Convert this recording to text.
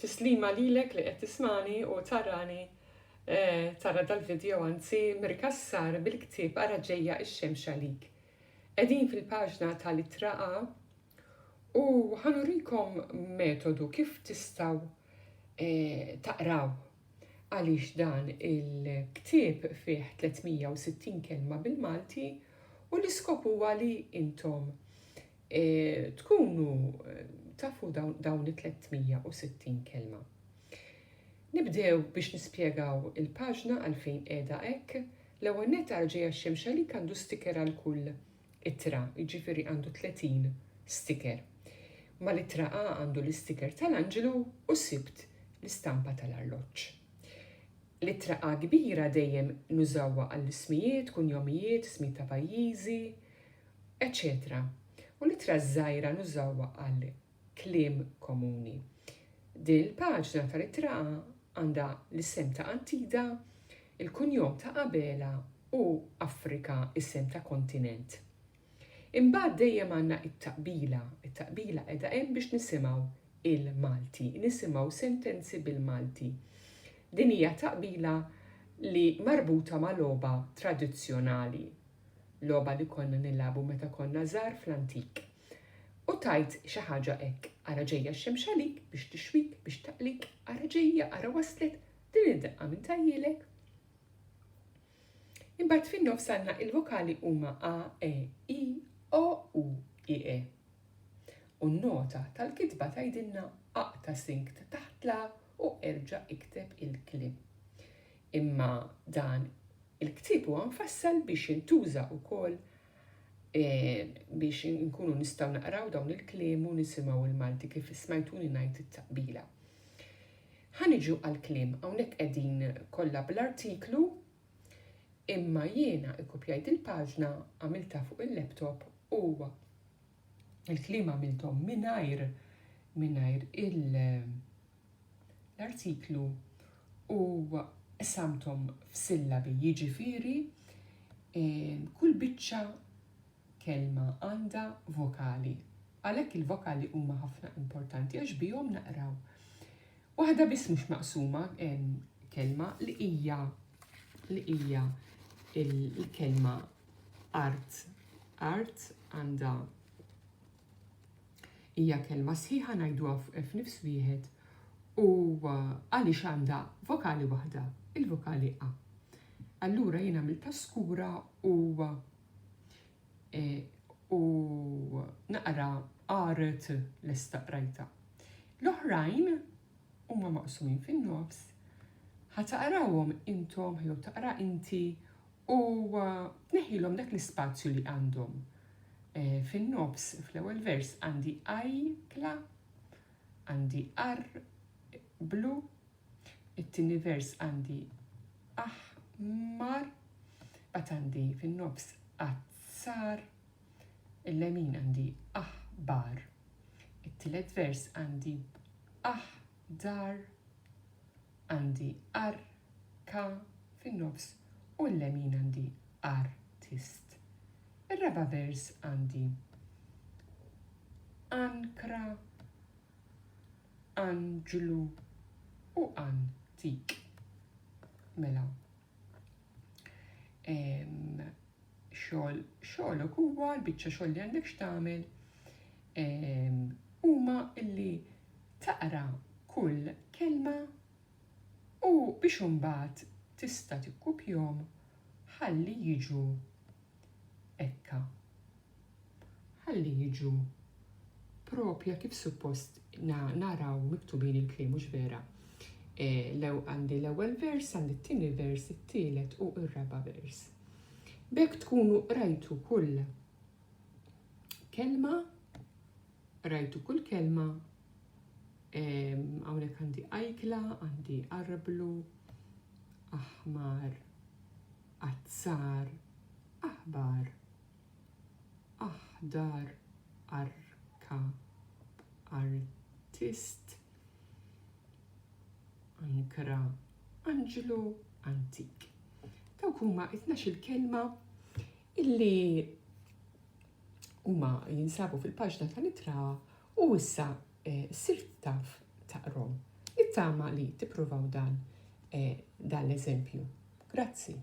Tislima lilek li qed tismani u tarani tara dal-video anzi Mir Cassar bil-ktieb Ara ġejja x-xemx għalik. Qegħdin fil-paġna tal-ittra A u ħa nurikom metodu kif tistgħu taqraw għaliex dan il-ktieb fih 360 kelma bil-Malti u l-iskop huwa li intom e, tkunu eh, tafu dawn, dawn it-360 kelma. Nibdew biex nispjegaw il-paġna għalfejn qiegħda hekk, l-ewwel nett għarġeja xemx għalik għandu sticker għal kull ittra, jiġifieri għandu 30 sticker. Mal-ittra A għandu l-isticker tal-anġlu u sibt l-istampa tal-arloġġ. L-ittra A kbira dejjem nużawha għall-ismijiet, kunjomijiet, ismijiet ta' pajjiżi, eċċetera U l-ittra żgħira nużawha għal kliem komuni. Din il-paġna tal-ittraqa għandha l-isem ta' Antida, il-kunjom ta' Abela u Afrika isem ta' kontinent. Imbagħad dejjem għandna it-taqbila, it-taqbila qiegħda hemm biex nisimgħu il-Malti, nisimgħu sentenzi bil-Malti. Din hija taqbila li marbuta ma' logħba tradizzjonali, logħba li konna nilagħbu meta konna żgħar fl-antik. U tgħid xi ħaġa hekk, ara ġejja x-xemx għalik, biex tixwik, biex taqlik, ara ġejja, ara waslet, din id-daqqa min tgħajjilek? Imbagħad fin-nofs għandna il-vokali huma a, e, i, o, u, i, e. U n-nota tal-kitba tgħidilna aqta' sink ta' taħt l-a u erġa' ikteb il-kliem. Imma dan il-ktieb huwa mfassal biex jintuża wkoll eh, biex nkunu nistgħu naqraw dawn il-kliem u nisimgħu il-Malti kif smajtuni ngħid it-taqbila. Ħaniġu għal-kliem, hawnhekk qegħdin kollha bl-artiklu, imma jiena ikkupjajt il-paġna għamilta fuq il-laptop u Il-kliem għamilthom mingħajr mingħajr il- l-artiklu u qsamthom f'sillabi, jiġifieri kull biċċa kelma għandha vokali. Għalhekk il-vokali huma ħafna importanti għax bihom naqraw. Waħda biss mhux maqsuma kelma li hija li hija il-kelma Art. Art għandha hija kelma sħiħa ngħiduha f'nifs wieħed u għaliex għandha vokali waħda, il-vokali a. Allura jiena mill paskura u e, u naqra qaret lesta qrajta. L-oħrajn huma maqsumin fin-nofs ħataqrawhom intom jew taqra inti U tneħħilhom dak l-ispazju li għandhom. E, Fin-nofs, fl-ewwel vers, għandi ajkla, għandi ar blu, it-tieni vers għandi aħmar, bat għandi fin-nofs azzar, il-lemin għandi aħbar, it-tielet vers għandi aħbar dar, għandi ar, ka, fin-nofs u l-lemin għandi ar, tist. Ir-raba' vers għandi an, kra, an, ġlu u an, tik. Mela, xogħol xogħolok huwa l-biċċa xogħol li għandek x'tagħmel huma illi taqra kull kelma u biex imbagħad tista' tikkupjhom ħalli jiġu ekka Ħalli jiġu propja kif suppost naraw miktubin il-kliem mhux vera. E, lew għandi l-ewwel vers, għandi t-tieni vers, it-tielet u r-raba' vers. B'hekk tkunu rajtu kull kelma, rajtu kull kelma Hawnhekk għandi ajkla, għandi arblu, aħmar, azzar, aħbar, Aħdar Arkab Artist Ankra Anġlu Antik Dawk huma t-tnax-il kelma illi huma jinsabu fil-paġna tal-ittra u issa eh, sirt taf taqrom. Nittama li tippruvaw dan eh, dan l-eżempju. Grazzi.